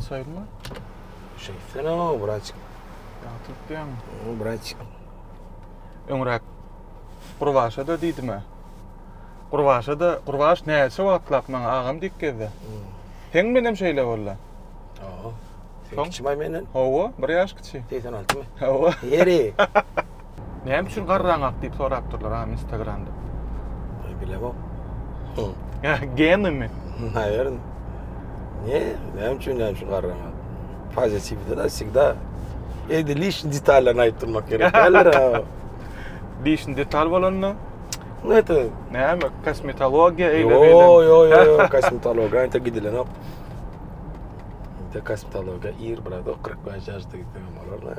Saýylma. Şeýtsene o braçik. Ýatyp diýen. O braçik. Öňräk Gurbaşa da diýdimä. Gurbaşa da Gurbaş näçe wagtlap maňa agam diýip gezdi. Hmm. Sen menem şeýle boldy. Oho. Sen kiçi menden. Hawa, bir ýaş kiçi. 86 my? Hawa. Ýeri. Näme üçin garraň ak diýip sorapdyrlar agam instagramda. Bilemok. Genimi? Naýer. Ne? Näme üçin näme şu garraň ak? Pozitiwde da всегда Edi lişni detallaryny aýdyp durmak gerek. Däldir. Lişni detal bolanda Näte? Näme? Kosmetologiýa eýle beýle. Yo yo yo, kosmetologiýa ýa-da gidilenok. Ýa-da kosmetologiýa ir brado 45 ýaşda gitse hem bolar.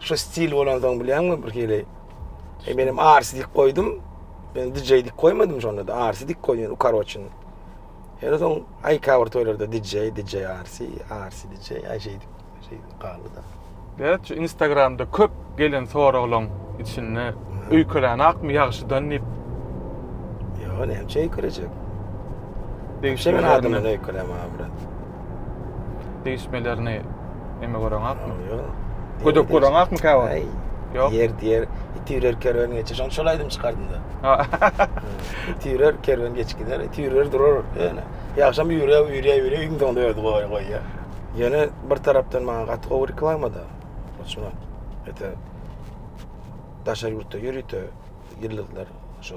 Şu stil bolansoň bilýäňmi bir hili. E menem arsi dik goýdum. Men DJ dik goýmadym şonda da arsi dik goýýan ukaroçyn. Her soň aýka kawr toýlarda DJ, DJ arsi, arsi DJ, aý şeýdip, şeýdip galdy da. Berat şu Instagramda köp gelen soraglaň içinde öýkelän akmy ýagşydan diýip. Ýa näçe öýkelejek? Degişli adamdan öýkeleme brat. degişmelerini neme göreňakmy? Ýok. Gödek göreňakmy käwagt? Aý. Ýok. Ýer diýer, itirer kerwen geçer. Şoň şol aýdym çykardym da. Itirer kerwen geçip gider, itirer durar. Ýöne ýagşam ýürä, ýürä, ýürä iň soňda özi goýar, goýar. Ýöne bir tarapdan maňa gaty gowy reklama da. Şuna. Ete. Daşary ýurtda ýörite ýyldyzlar şo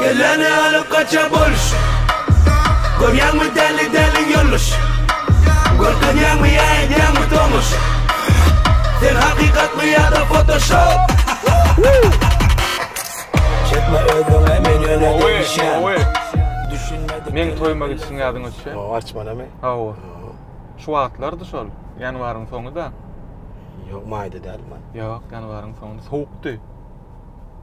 Geleni alyp gaça boluş Görýäňmi däli däli ýoluş Görkezýäňmi ýa edýäňmi tomuş Sen hakykatmy ýa-da fotoshop Çekme özüňe men ýöne degişýän Düşünmedik Meň toýuma gitişiň ýadyňa düşýä? Hawa arçmanamy? Hawa Şu wagtlardy şol ýanwaryň soňy-da Ýok maýda dälmi? Ýok ýanwaryň soňy sowukdy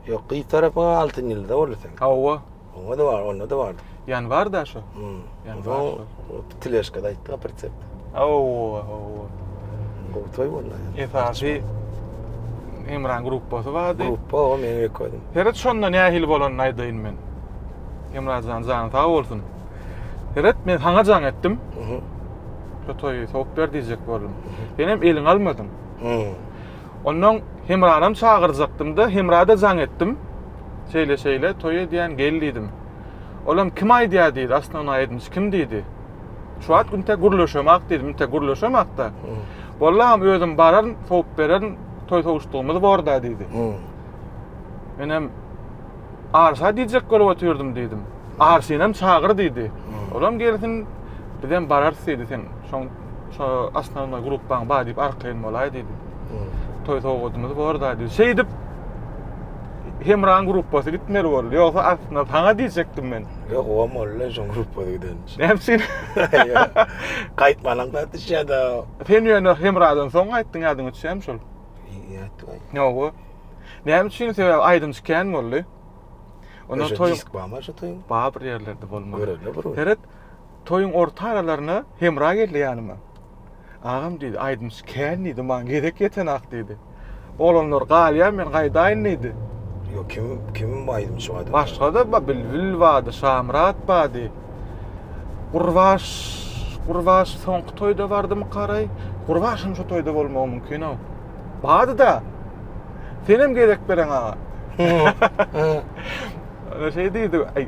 Ýok, gyz tarapyňa altyn ýyldyz-a boldy seň. Hawa. Oňa-da bar, onda-da bardy. Ýan bar-da şo. Hmm. Ýan bar şo. O teleşkada aýtdy-a pritsepde. Hawa, hawa. Gowy toý boldy. Esasy Hemran gruppasy bardy. Gruppa o meni ýok edin. Heret şonda nähili bolanyny aýdaýyn men. Hemra jan, jany sag bolsun. Heret men saňa jaň etdim. Şo toýy sowup ber diýjek boldum. Senem eliňi almadyň. Hmm. Onnoň Hemranam çagyrjakdym-da, Hemra-da jaň etdim. Şeýle-şeýle, toý edýän, gel diýdim. Olam, kim aýdýar diýdi, Osnownaý edinçi kim diýdi. Şu wagt üntä gürleşemok diýdim, üntä gürleşemok-da. Boldy agam, özüm bararyn, sowup bererin, toý sowuşdygymyz bor-da diýdi. Menem, Arşa diýjek bolup otyrdym diýdim. Arşynam çagyr diýdi. Olam gelsin, bizem bararys diýdi, sen şoň. Şo asnawna gruppaň bar diýip arkaýyn bolaý diýdi. Toý sowgadymyz bor da diýdi. Şeýdip Hemraň gruppasy gitmeli boldy. Ýogsa aslynda saňa diýjekdim men. Ýok, o molla şoň gruppa giden. Näme üçin? Gaýtmanyň zat işe da. Sen ýöne Hemradan soň gaýtdyň ýadyň üçem şol. Ýatdy. Ýok. Näme üçin? Sebäbi aýdymçy kän boldy. Ondan toý. Disk barmy şu toýuň? Bar bir ýerlerde bolmaly. Görelde bir. Seret. Toýuň orta aralaryna Hemra geldi ýanyma. Agam diýdi, aýdymçy kän diýdi, maňa gezek ýetenak diýdi. Oglanlar galýar, men gaýdaýyn diýdi. Ýok, kim, kim bu aýdymçy bardy? Başga-da bar, Bilbil bardy, Şamyrat bardy. Gurbaş, Gurbaş soňky toýda bardymykaraý? Gurbaş hem şu toýda bolmagy mümkin-ow. Bardy-da. Senem gezek bereň aga. Şeý diýdi, aý,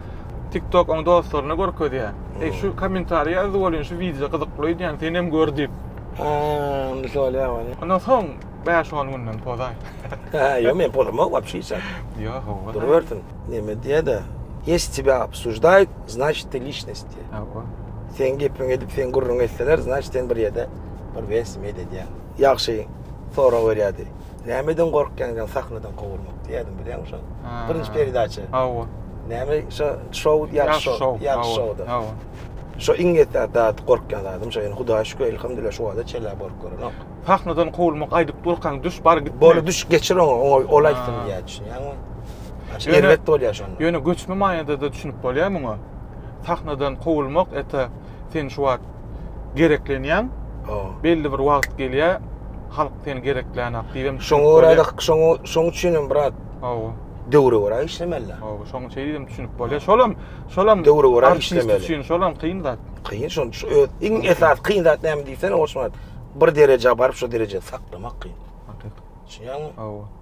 TikTok oň dostlaryna görkezýär. Eý, şu kommentariýa ýazy welin, şu wideo gyzykly öýdýän, sen hem gör diýip. Ha, indi şol ýa welin. Ondan soň bäş-on günden pozaý. Ha, ýok, men pozamok wapşe hiç zat. Ýok, hawa. Durubersin. Neme diýýä-de, Ýesi tebe obsujdaýt, znaçit, ti liçnost diýýä. Hawa. Seň gepiňi edip, seň gürrüňi etseler, znaçit, sen bir ýerde bir wes meýdedýäň. Ýagşy sorag berýär diýip. Nämeden gorkýaň diýen sahnadan kowulmak diýýärdim bilýäňmi şony? Birinji peredaça. Hawa. Näme şu şou ýaş şou, ýaş şowda. Hawa. Şo iň ýetdi zat gorkýan zadym şo. Ýöne Hudaýa şükür elhamdülillah şu wagta çenli gorkýarynok. Sahnadan kowulmak aýdyp durkaň düş bar git. Bor düş geçir oňa, oňa ol aýtsyn diýýär düşünýäňmi? Aşa erbet bolýar şonda. Ýöne göçme maýada-da düşünip bolýar muňa. Sahnadan kowulmak ete sen şu wagt gereklenýäň. Belli bir wagt gelýär, halk seni gereklänok diýip hem. Şoňa görä-de, şoňa, şoň üçin hem brat. Hawa. Döwre görä işlemeli. Hawa, şoň üçin hem düşünip bolýar. Şolam, şolam döwre görä işlemeli. Artist üçin şolam kyn zat. Kyn, şoň şu öz iň esas kyn zat näme diýsene, Orçun brat. Bir derejä baryp, şu derejä saklamak kyn. Hakykat. Düşünýäňmi? Hawa.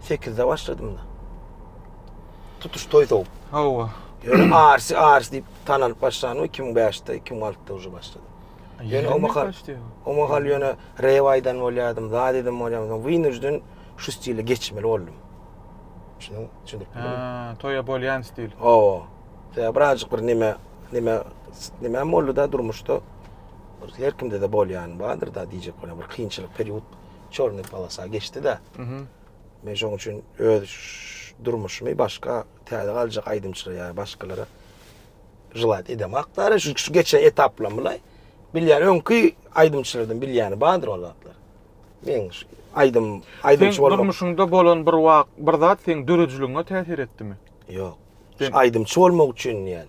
Sekizde başladym da. Tutuş toy sow. Hawa. Ýöne Arsi Arsi diýip tanalyp başlan we 2005-de, 2006-da uje başlady. Ýöne o mahal, o mahal ýöne Rewaýdan bolýardym, Zadeden bolýardym. Wynujden şu stile geçmeli boldum. Şunuň üçin. Ha, toýa bolýan stil. Hawa. Sebäbi birazjyk bir neme, neme, neme boldy da durmuşda. Her kimde de bolýan bardyr da diýjek bolan bir kynçylyk period. Çornyý polosa geçdi-de. Men şoň üçin öz durmuşymy başga täze galjak aýdymçylara ýa başgalara jylat edemak däl. Şu şu geçen etaplam bulaý. Bilýän öňki aýdymçylardan bilýäni bardyr ol zatlar. Men şu aýdym aýdymçy bolmak. Durmuşyňda bolan bir wak bir zat seň döredijiligine täsir etdimi? Ýok. Aýdymçy bolmak üçin diýen.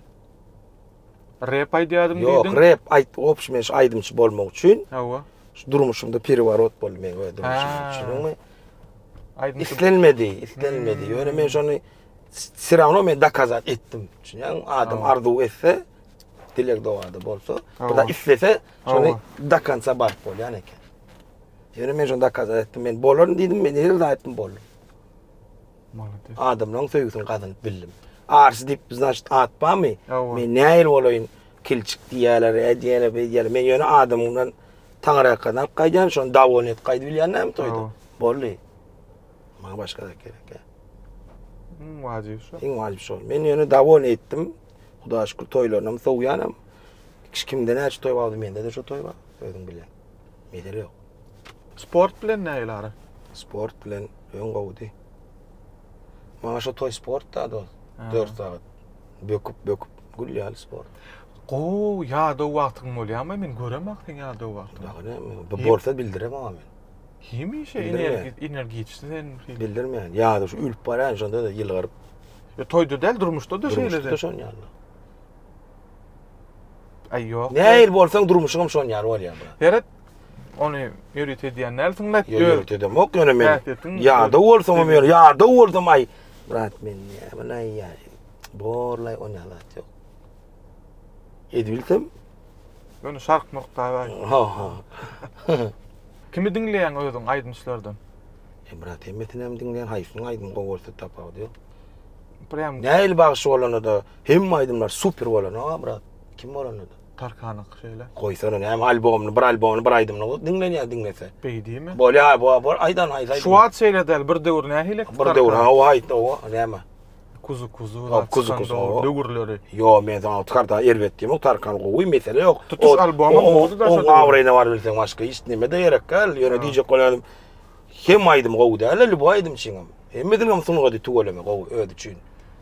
Rep aýdýadym diýdiň. Ýok, rep aýt, obşi men şu aýdymçy bolmak üçin. Hawa. Şu durmuşymda periworot boldy men we durmuşym üçin. Aýdym islenmedi, islenmedi. Hmm. Ýöne men şony все равно men dokazat etdim. Çünki adam arzuw etse, dilek dogada bolsa, bu da islese, şony do konca baryp bolýan eken. Ýöne men şony dokazat etdim. Men bolaryn diýdim, men ýyl aýtdym boldum. Molodes. Adamlaň söýgüsini gazynyp bildim. Arsy diýip znaçt at barmy? Men nähili bolaýyn? Kilçik diýýäler, ädýäler, beýdýäler. Men ýöne adamdan taňryýakdan alyp gaýdýan, şony dawon et gaýdyp bilýän näme toýda? Boldy. Maňa başga zat gerek ýa. Iň wajyby şo. Iň wajyby şo. Men ýöne dawon etdim. Hudaýa şükür toýlaryna sowýanam. Hiç kimde näçe toý bardy, mende de şo toý bar. Özüň bilýän. Mesele ýok. Sport bilen nägile ara? Sport bilen öň gowudy. Maňa şu toý sport da ol. 4 sagat böküp böküp gül ýaly sport. Gowy ýadaw wagtyň bolýamy? Men göremak seň ýadaw wagtyňy. Dagy näme? Bu bolsa bildire maňa men. Hemişe energiçsi sen. Bildirmeýän. Ýadaw şu ölüp barýan şonda da ýylgyryp. Ýa toýda däl durmuşda da şeýle. Durmuşda şon ýaly. Aý ýok. Nähili bolsaň durmuşyňam şon ýaly bolýar. Seret Ony ýörite edýän dälsiň bäh. Ýa ýörite edemok ýöne men. Ýa-da bolsam men, ýa-da bolsam aý. Brat men näme näýär? Borlaý on ýalat ýok. Edildim. Ýöne şark murk da aý. Ha ha. Kimi diňleýäň özüň aýdymçylardan? E brat hemmesini hem diňleýän haýsyny aýdym gowy bolsa tapawut ýok. Prem. Näil bagşy bolanda da hemme aýdymlar super bolan ha brat. Kim bolanda da. Tarkanyňky şeýle. Goýsana näme albomyny, bir albomyny, bir aýdymyny goý, diňlenýär diňlese. Beý diýme. Bolýa, bo, bo, aýdan aýt, aýt. Şu wagt şeýle däl, bir döwür nähili? Bir döwür, ha, o aýt, o, näme? Kuzu kuzu, Hop, kuzu kuzu, o. Döwürleri. Ýo, men sana tarkan erbet diýmok, tarkan gowy, mesele ýok. Tutuş albomyň boldy da. Oň awraýyna bar bilseň başga hiç nime de gerek däl. Ýöne diýjek bolýanym, hem aýdym gowy däl, lüboý aýdym çyňam. Hemmesiniň hem sungaty tüweleme gowy, özi üçin.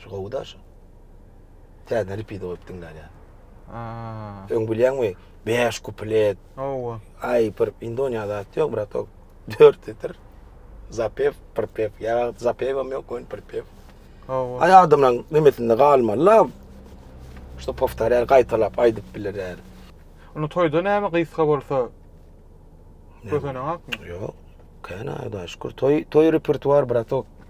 Şu gowy da şu. Täzeden repeat goýup diňlänýä. Aa. Öň bilýäňmi? 5 kuplet. Owa. Ay bir Indoniýa zat ýok brat ol. 4 titir. Zapev, prpev. Ýa zapev hem ýok, ol prpev. Owa. Ay adamlaryň nemesinde galmaly la. Şu powtarýar, gaýtalap aýdyp biler ýaly. Ony toýda näme gysga bolsa gözeneňakmy? Ýok. Käna Hudaýa şükür. Toý, toý repertuar bratok.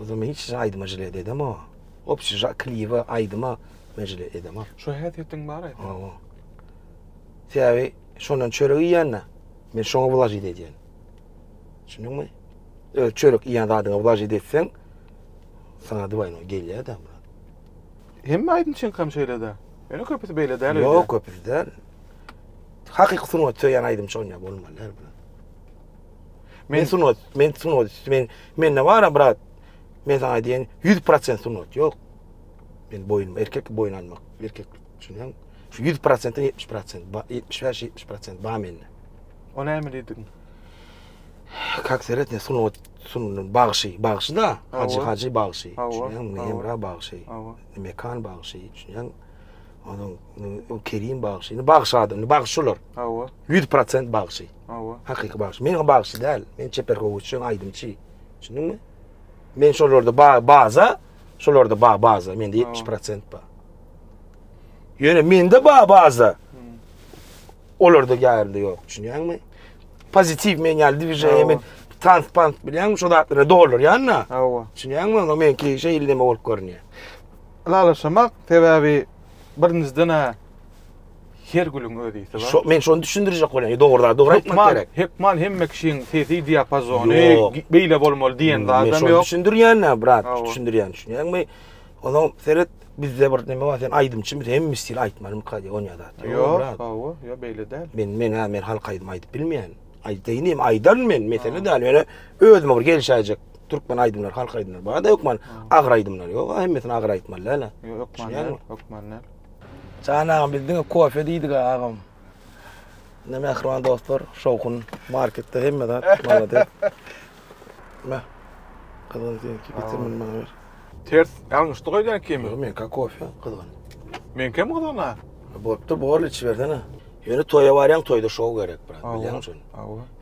O zaman hiç şa aýdyma jile ededemo. Opşi şa kliwa aýdyma men jile edemo. Şo häsiýetiň bar aýdyma. Hawa. Täbi şondan çörek iýende men şoňa wlajit edýän. Düşündiňmi? Öz çörek iýen zadyňa wlajit etseň sana duwaýno gelýär da. Hemme aýdymçyň hem şeýle de. Ýöne köpüsi beýle däl. Ýok, köpüsi däl. Hakyky sungat söýen aýdymçy onýa bolmaly. Men sungat, men sungat, men mende bar brat. Men sana diýen 100% sungat ýok. Men boýun erkek boýun almak, erkek düşünýän. Şu 100%-den 70%, 75-70% bar mende. O näme diýdiň? Kak seret ne sungat, sungat bagşy, bagşy da, hacı hacı bagşy. Düşünýän, Emre bagşy. Mekan bagşy, düşünýän. Onuň Kerim bagşy, bagşy adam, bagşylar. Hawa. 100% bagşy. Hawa. Hakyky bagşy. Men bagşy däl. Men çeper gowuşçy, aýdymçy. Düşündiňmi? Men şolarda ba baza, şolarda ba baza. Mende 70% bar. Ýöne mende ba baza. Olarda ýarynda ýok. Düşünýäňmi? Pozitiw men ýaly diwijeýe men tans pans bilýän şu zatlara dolar ýanna. Hawa. Düşünýäňmi? Onda men ki şeýle neme bolup görünýär. Lalaşamak sebäbi birinjiden-ä Her gülüň öz isi bar. Şo, men şony düşündirjek bolýan. E, dogry zat, dogry aýtmak gerek. Hökman hemme kişiň sesi diapazony beýle bolmaly diýen zat hem ýok. Men şony düşündirýän, brat, düşündirýän, düşünýäňmi? Ola seret, bizde bir näme bar, sen aýdymçy, biz hemme stil aýtmaly mykdy diýen ýa zat. Ýok, brat. Hawa, ýa beýle däl. Men, men, men halk aýdym aýdyp bilmeýän. Aýdaýyn hem aýdan men, mesele däl. Ýöne özüme bir gelişäýjek türkmen aýdymlary, halk aýdymlary bar-da, hökman agyr aýdymlar ýok. Hemmesini agyr aýtmaly däl-ä. Ýok, hökman däl, hökman däl. Jan agam biz diňe kofe diýdik agam. Ne mähriban dostlar, şowhun marketde hemme zat malade. Ma. Kazan diýen ki getir men maňa ber. Ters ýalňyşdy goýdan kimi? Ýok men ka kofe kazan. Men kim kazan ha? Botda bor içi bersene. Ýöne toýa barýan toýda şow gerek brat bilýän üçin.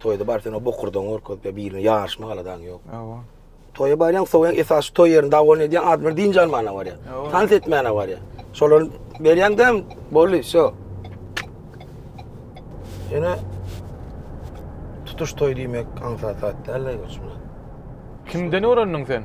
Toýda bar sen o bokurdan gorkut ya birine ýaryşma galadaň ýok. Awa. Toýa barýaň, sowaýaň, esasy toý ýerinde dawon edýäň, adamlar dynç almana barýar. Tans etmäne barýar. Şolar berýäň däm, boldy, şo. Ýöne tutuş toý diýmek aňsat zat däl-le, Kimden öwrendiň sen?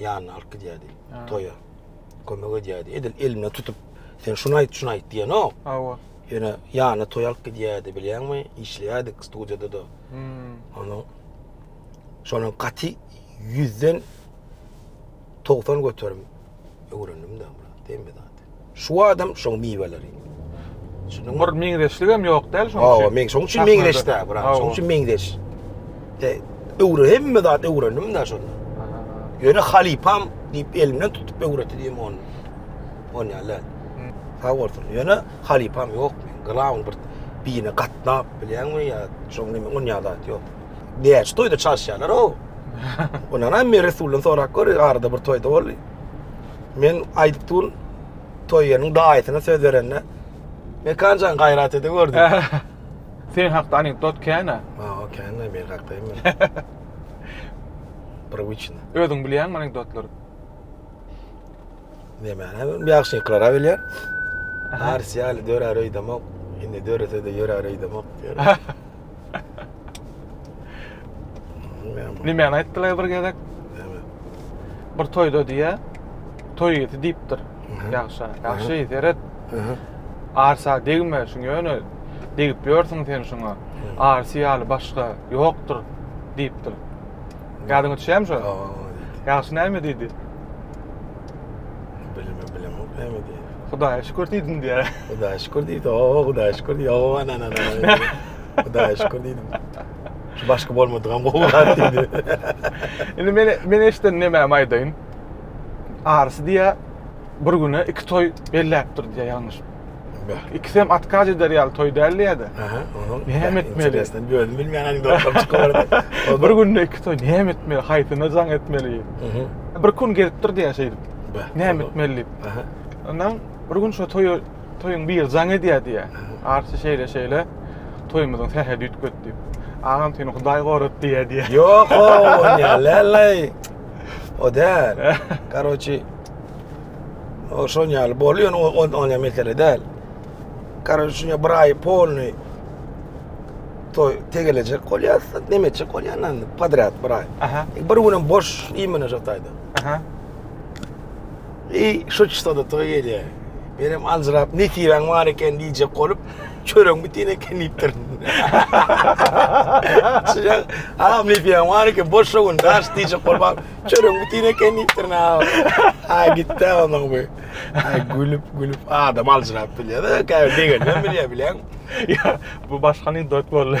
ýanyna alyp gidýärdi toýa. Kömek edýärdi. Edil elinden tutup, sen şunu aýt, şunu aýt diýenok. Hawa. Ýöne ýanyna toý alyp gidýärdi, bilýäňmi? Işleýärdik studiýada da. Hmm. Onu şonuň gaty 100-den 90 göterim öwrendim-de, diýme zat. Şu adam şoň miweleri. Düşündiňmi? Bir meňzeşligem ýok däl şoň üçin. Hawa, meň şoň üçin meňzeş däl, brat. Şoň üçin meňzeş. De, öwre hemme zat öwrendim da şonda. Ýöne halypam diýip elimden tutup öwretdi diýim ony. On ýaly. Sag bolsun. Ýöne halypam ýok. Glam bir birine gatnap bilýäňmi ýa şoň nime on ýaly zat ýok. Näçe toýda çalyşýarlar o. Ondan hem Resuldan sorap gör, arada bir toýda boldy. Men aýdyp durun, Toýýanyň daýysyna söz berende, Mekanjan gaýrat ede gör diýip. Sen hakda anekdot kän-ä. Ha, kän-ä men hakda hem. Prywıçny. Özüň bilýäňmi anekdotlary? Nämäni bilýän, ýagşyňkylary-a bilýän. Arsýaly dörär öýdemok, indi dörese-de ýörär öýdemok diýýär. Nimäni aýtdylar bir gezek? Näme? Bir toýda diýä, toý ýeti diýipdir. Ýagşa, ýagşy, seret. Arsa degme, şuň ýöne degip ýörsüň sen şuňa. Arsy ýaly başga ýokdur diýipdir. Ýadyňa düşýärmi şo? Ýagşy näme diýdi? Bilmem, bilemok näme diýdi. Hudaýa şükür diýdim diýä. Hudaýa şükür diýdi. O, Hudaýa şükür diýdi. O, ana, ana, ana. Hudaýa şükür diýdim. Şu başky bolmadygam gowy zat diýdi. Indi men men eşden näme aýdaýyn? Arsy diýä bir güne iki toý belläpdir diýä ýalňyş. İkisi hem atkaz eder ýaly toý däldi ýa-da. Aha, onuň. Näme etmeli? Sen bir özün bilmeýän aňda oturup çykyp Bir günde iki toý näme etmeli? Haýsyna jaň etmeli? Bir gün gezipdir diýä şeýdip. Näme etmeli diýip. Ondan bir gün şu toýa toýuň bir jaň edýär diýýär. Arçy şeýle şeýle toýumyzyň sähedi ýitip gitdi. Agam seni Hudaý gorap diýýär diýýär. Ýok, o ne leley. O däl. Karoçi. O şon ýaly bolýar, o on on ýa mesele däl. Karoçi şuňa bir aý polny toý tegelejek bolýar, näme etjek bolýar, podrad bir aý. Bir günem boş iýmine şataýda. Aha. Eý, şu çysada toý gelýär. Menem aljyrap, nesibeň bar eken diýjek bolup, çöregiň bitin eken diýipdir. Şuňa, agam nesibeň bar eken, boş şu gün daş diýjek bolup, agam, çöregiň bitin eken diýipdir ne agam. Aý gitdi agam bu. Aý gülüp, gülüp adam aljyrap bilýär-de, käbir begenmän bilýär, bileň. Ýa, bu başganyň dot boldy.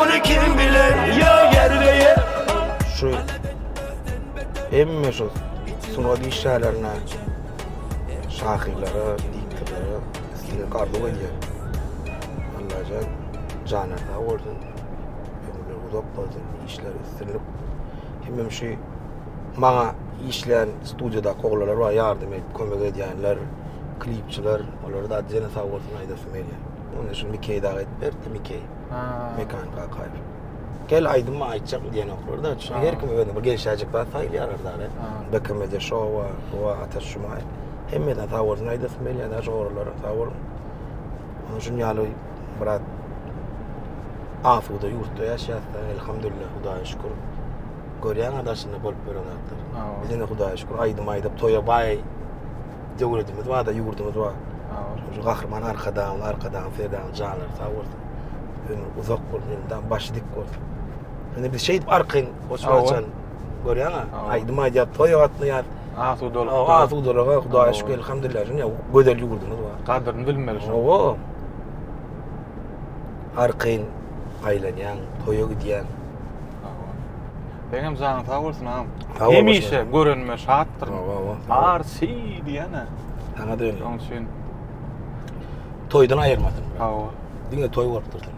Ony kim biler yo yerbe yer. Şu hemme şu sungat işgärlerine, şahyrlara, diktorlara islendik arzuw edýän. Allajan jana sag bolsun. Ömürler uzak bolsun, işler üstünlik. Hemmem şu maňa işleyen studiyada oglalar var, yardım edip kömek edýänler, klipçiler, olara da jene sag bolsun aýdasym gelýär. Onda şu Mikey dagy edip berdi, Mikey. Ha. Mekan Kakaýew. Gel aýdymy aýtjak diýenoklar da. Çünki her kim özüne bir gelişäjek zat saýlaýarlar da. BKM-de şow bar, bu bar, Ataş Jumaýew. Hemmeden sag bolsun aýdasym gelýär daş ogrulara sag boluň. Munuň üçin ýaly biraz asuda ýurtda ýaşaýarys da, elhamdülillah, Hudaýa şükür. Görýäňiz daşynda bolup ýören zatlar. Bizde indi Hudaýa şükür aýdym aýdyp toýa baý Döwletimiz bar-da, ýurdumyz bar. Şu gahryman Arkadagymyz, Arkadagly Serdarymyz janlary sag bolsun. Ömri uzak bolsun, elmydama başy dik bolsun. Indi biz şeýdip arkaýyn goşgy açan. Görýäňä? Aýdym aýdýar, toý gatnaýar. Asudalyk. Hawa, asudalyga Hudaýa şükür, elhamdülillah. Şuny gözel ýurdumyz bar. Gadyryny bilmeli şu. Hawa. Arkaýyn aýlanýaň, toýa gidýäň. Seňem janyň sag bolsun agam. Sag bol. Hemişe görenime şatdyr. Bar si diýene. Sana da öyle. Onun için. Toydan ayırmadın. Hava. Dine toy bolup dursun.